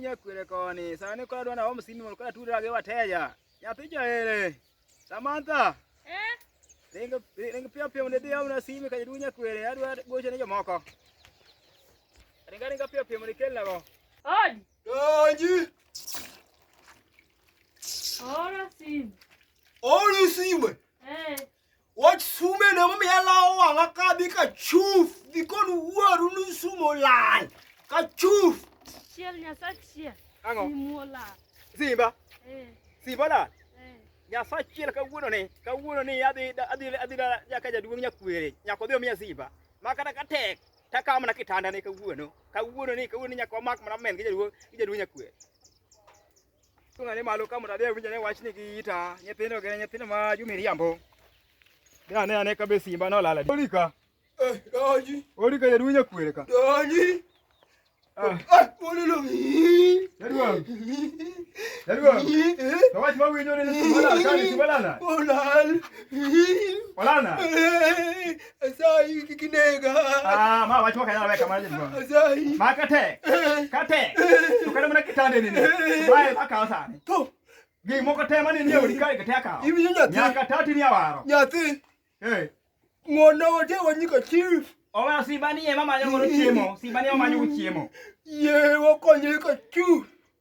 Nyakwere koni sani kora dwana home simi mondo kora tudra gi wateja nyathi jaere Samantha eh ring ring pia pia mondo idhi amna simi ka jaduong' nyakwere adwa gocho ne jomoko ringa ringa pia pia mondo ikelnago Odi. Donji. Ora sime. Ora sime. Wach sume ne momiya lawo wang'a ka dhi ka chuf dhi kon wuoru ni sumo lal ka chuf. Chiel Nyasaye chiel. Ang'o? Simuo lal. Simba. Eh. Simba lal. Eh. Nyasaye achiel kawuono ni kawuono ni adhi adhi adhi nyaka jaduong' nyakwere nyaka odhi omiya simba ma kata ka tek takawo mana kitanda ne kawuono kawuono ni kawuono ni nyaka wamak mana men gi jaduong' gi jaduong' nyakwere Tung'ane malo ka mondo adhi awinj ane wachni gi ita nyithindo gi nyithindo ma jomiriambo. Dhi ane ane ka be simba nolal adi. Olika. Eh, donji. Olika jaduong' nyakwere ka. Donji. Ah. Ah, Olilo. Jaduong'. Jaduong'. Eh. To wach ma winjo ni simba lal ka ni simba lal. Olal. Olana. Eh. Asai kikinega. Ah, ma wacho kana weka manje ngo. Asai. Ma kate. Kate. Tukana mna kitande nini? Wae baka osani. To. Gi moko tema nini yo dikari kate aka. Ibi nyati. Nyaka tati ni awaro. Nyati. Eh. Ngona wote wanyiko chief. Owa sibani ye mama nyongoro chiemo. Sibani mama nyongoro chiemo. Ye wakonye ka chu.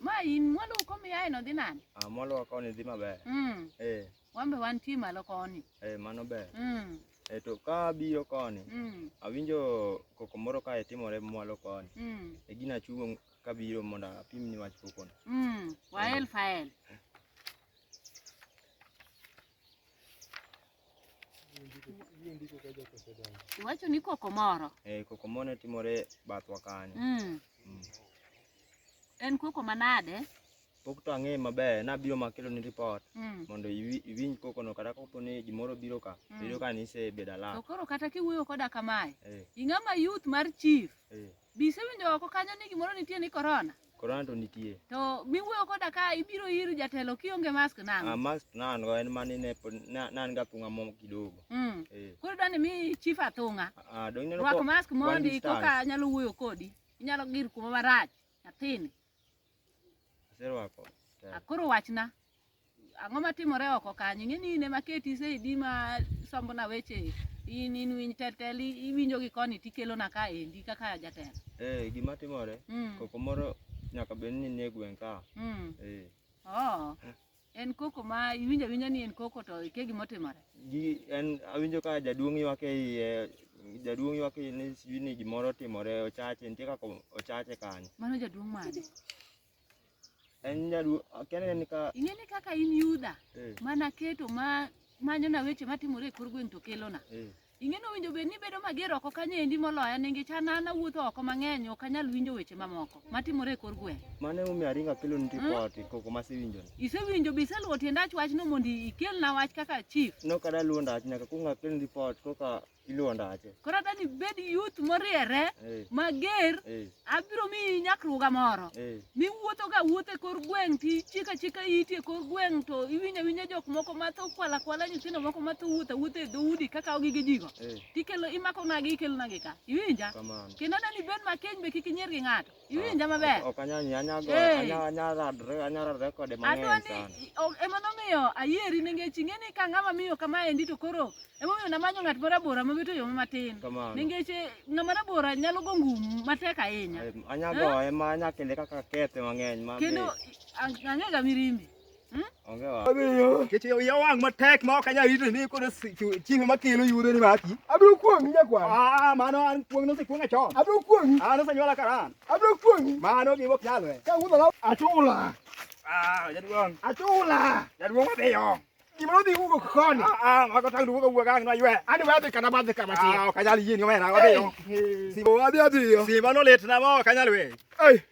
Ma in mwandu komiyae no dhi nade? Ah, mwanduwa koni dhi maber. Mm. Eh, Wan be wantie malo koni. eh, mano ber. Mm. Eh, to ka abiro koni, Mm. awinjo koko moro kae timore mwalo koni. Mm. E gina achungo kabiro mondo apimni wach kokono. Mm. Wael fael. Iwacho ni koko moro. Eh, koko moro timore bathwa kanyo. Mm. Mm. En koko manade? Pok to ang'e maber, nabiro makelo ni report mm. mondo iwinj koko no kata kopo ni gimoro biro ka, mm. biro ka ni se bedala. To koro kata kiwuoyo koda kamae, eh. ing'ama youth mar chief. Eh. Be isewinjo oko kanyo ni gimoro nitie ni corona? Corona to nitie. To miwuoyo koda ka ibiro ir jatelo kionge mask nang'o? Ah, mask nan go en mani ne pod na- nan ga thung'a mo kidogo. Mm. Eh. Koro dwani mi chief athung'a. Ah, dong ineno Rwak ko- mask one mondi distance. koka anyalo wuoyo kodi. Inyalo gir kuma marach nyathini. Aserwako. Akoro wachna. Ang'o matimore oko kanyo? Ing'e ni in ema keti saidi ma sombona weche in in winj tetel iwinjo gi koni tikelona ka endi kaka jatelo. Eh, gima timore, mm. koko moro nyaka bed ni nie gweng' ka. Mm. Eh. Oh. En koko ma iwinjo awinja ni en koko to ikia gima otimore. Gi en awinjo ka jaduong' ywak e iye, jaduong' ywak e iye ni sijui ni gimoro otimore, ochache, nitie kaka ochache kanyo. Mano jaduong' mane? En jaduong' akia ni en ka Ing'e ni kaka in Yuda eh, ma naketo ma manyona weche matimore e kor gweng' to kelona. eh, Ing'eno winjo bed ni bedo mager oko kanyo endi moloya ningi cha nana wuotho oko mang'eny ok anyal winjo weche mamoko matimore e kor gweng'. Mano emomiyo aringo akelo ni Hmm? ripot koko masewinjo ni. Isewinjo be iseluwo tiend ach wachno mondo ikelna wach kaka chief. No kada luwo ndach nyaka kuong akel ripot koka iluwo ndache. Koro adani bed youth moriere Eh, mager eh. abiro miyi nyakruga moro eh. miwuotho ka wuotho e kor gweng' to ichika chika iti e kor gweng' to iwinja winja jok moko matho kwala kwala nyithindo moko matho wuotha wuotha e dhoudi kakawo gige jigo eh. tikelo imako nagi ikelo nagi ka iwinja kendo ne ni bed makeny be kik inyier gi ng'ato ah, iwinja maber adwani ema nomiyo ayieri nengech ing'e ni ka ng'ama miyo kama endi to koro Emomiyo namanyo ng'at ma rabora ma wito yo matin. Kamano. Nikech eh, ng'ama rabora nyalo go ngum matek ahinya. Em, Anyago ema anya kele kaka kethe mang'eny ma Kendo ang- ang'ega mirimbi. onge wa. Kech iya wang' matek ma ok anyal rito ni koro si- chu- chieng' ma kelo yudo ni maki. Abiro kuong'i nyakwar. Ah, mano an kuong' nosekuong'a chon. Abiro kuong'i. An osenyuola karan. Abiro kuong'i. Mano gima ok nyalre. Ka wuodho na Achula. Ah, jaduong'. Achula. Jaduong' odhiyo. Gima nodhi wugo koni. Ah, ah mago tang dugo wugo gang na ywe. Ani wadhi kana badhi kama tiyo. Ah, kanyal yini omera wadhiyo. Simba wadhi adhiyo. Simba no let na mo kanyal we. Ei.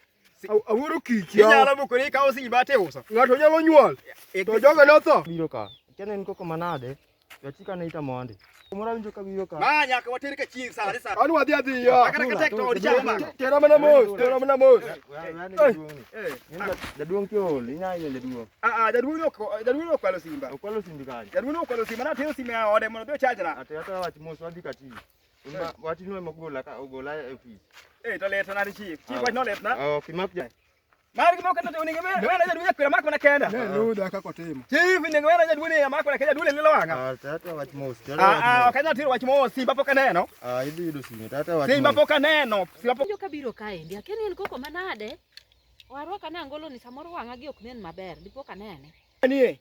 Awuoro kiki. Inyalo bukuri ka osimba te uso. Ng'ato nyalo nyuol. E, e, to jogo notho. Biro ka. Kene niko kama nade? Yachika ne ita mondi. Mora winjo ka wiyo ka. Ma nyaka water ka chieng' sa sa. Anu wadhi adhi yo. Akara ka tek to od chama. Tera mana mos, tera mana mos. Eh. Jaduong' kiol, inya ile jaduong'. Ah ah, jaduong' no jaduong' no kwalo simba. Okwalo simba kali. Jaduong' no kwalo simba na tero simba ya ode mondo do chajra. Ate ata wach mos wadhi ka chieng'. Uma wati no mogola ka ogola e office. Eh, to let na chief. Chief wach no let na. Oh, kimak jai. Mari kimo kana tuni ngeme ngeme na jaduni kwa mako na kenda. Ne no da ka kotimo. Chief ni ngeme na jaduni ya mako na kenda dule lilo wanga. Ah tata wach mos. Ah ah kana tiro wach mos simba poka neno. Ah idu idu simba tata wach. Simba poka neno. Simba poka. Joka biro kae ndi akeni en koko manade. Warwa kana angolo ni samoro wanga gi ok nen maber. Dipo kanene. Anie.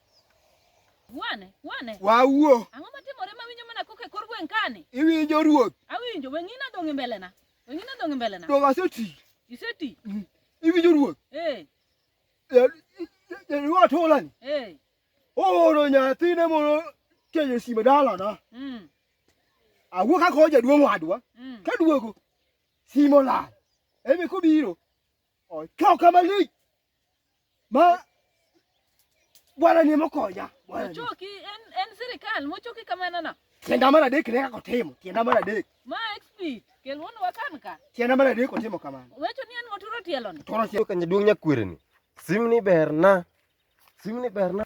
Wane, wane. Wawuo. Ang'o matimore ma winjo mana koke kor gweng' kani? Iwinjo ruoth. Awinjo, weng'ina dong' e mbelena. Weng'ina dong' e mbelena. Dong' aseti. Iseti? Mm. Iwinjo ruoth. Eh. Jariwa tolani. Eh. Ooro nyathine mondo kenyo sime dalana. Mm. Awuo kaka oja duong' wadwa. Mm. Ka duogo simo lal. Emi kobiro. Okaw kama lich. Ma bwana ni mokonya. Bwana. Choki en en sirikal mochoki kamano na. Tienda mara dek ne kako timo. Tienda mara dek. Ma XP kel wono wakan ka. Tienda mara dek otimo kamano. Wecho ni en moturo tielo ni. Toro tielo kanye duong nyakwere ni. Sim ni berna. Sim ni berna.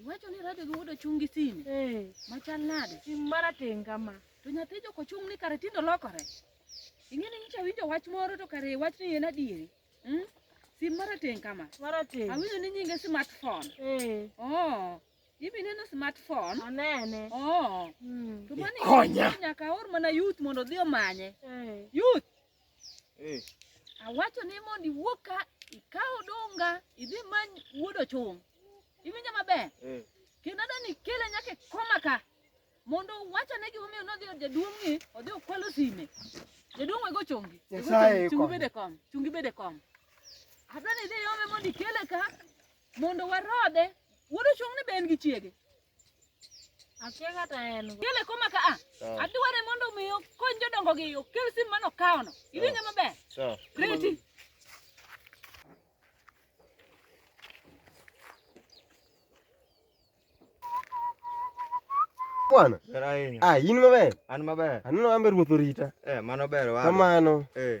Iwacho ni rado gi wuod ochung' gi sime Eh, machal nade? sim marateng' kama. To nyathi jok ochung' ni kare tinde olokore. Ing'e ni nyicha winjo wach moro to kare wach ni en adieri. Mm? Sim marateng' kama. Marateng'. Awinjo ni nyinge smartphone. Eh, Oh, ibi neno smartphone. anene. Oh, Mm. to mani Ikonya. nyaka aor mana youth mondo odhi omanye. Eh, Youth, Eh. Awacho ni mondo iwuog ka ikaw odunga idhi many wuod ochung'. Iwinjo maber? Eh. Kendo adwa ni ikele nyaka e koma ka mondo uwachone gimomiyo nodhi od jaduong'ni odhi okwalo sime. Jaduong' wego chongi. Wego Nyasaye chongi, chungi konyo. bede kom. Chungi bede kom. Adwa ni idhi iome mondo ikele ka mondo warodhe. Wuod ochung'ni be en gi chiege. Akia kata en go. Kele koma ka a. Ah. Adware mondo mi okony jodongo gi okel sim mano kaono. Iwinjo maber? Sawa. Reti. Bwana. Ah, in maber? An maber. Aneno ambe ruoth orita. Eh, mano ber wa. Kamano. Eh.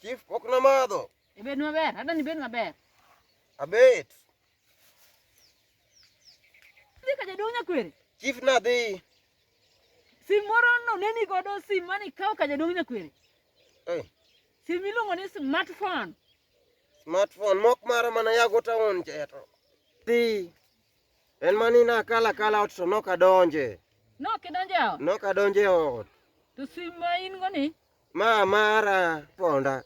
Chief pok namadho. Ibed maber, adwa ni ibed maber. Abet. Dhi ka jaduong' nyakwere. Chief nadhi. Sim moro no ne ni godo sim mane ikawo ka jaduong' nyakwere. Eh. Sim miluongo ni smartphone. Smartphone mok mara mana yago taon cheto. Dhi. En mani na kala kala ot to nok adonje. Nok idonje ot? Nok adonje ot. To sim ma in go ni? Ma mara ponda.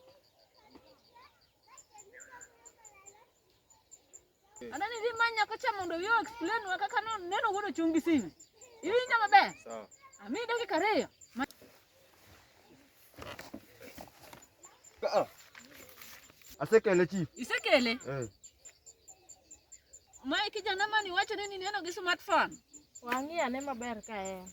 Anani dhi manya kocha mondo yo explain wa kaka neno wuono chung' gi simu. Iwinjo maber? Sawa. Ami dakika ariyo. Ah. Asekele chief. Isekele? Eh. Mae kijana mani wacho ni neno gi smartphone. Wang'i ane maber ka en.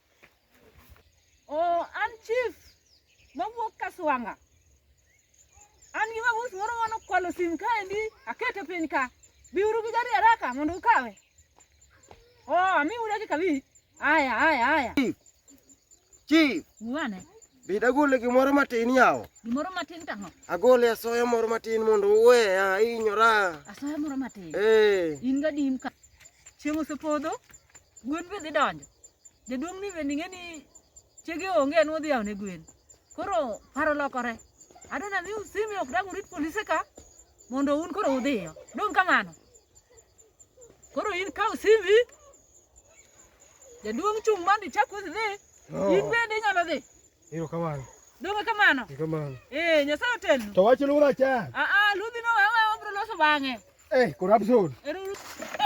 Oh, an chief mawuok Kaswanga. An gi mabus moro mane okwalo sim kaendi, akete piny ka. Biuru gi gari haraka mondo ukawe. Oh, amiu dakika abich. Aya, aya, aya. Chief, Muane. Bed agole gimoro matin yawo. Gimoro matin tang'o? Agole asoya moro matin mondo uweya ahinyora. Asoya moro matin. Eh. In ga dim ka. Chieng' osepodho, gwen be dhi donjo. Jaduong' ni bende ing'e ni chege onge en odhi yawo ne gwen. Koro paro lokore. Adwa nami usimi ok dang' urit polise ka mondo un koro udhiyo. Dong' kamano. Koro in kaw simbi Jaduong' chung' mondo ichak usi dhi. Oh. In bende inyalo dhi. Ero kamano. Donge kamano? Ero kamano. Eh, Nyasaye otelnu. To wach lura cha. Ah ah, ludhi no wewe obro loso bang'e. Eh, corruption. Ero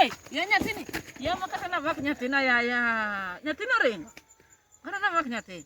Eh, ya nyathini. Ya makata na vak nyathina ya ya. Nyathino ringo. Kata na vak nyathini.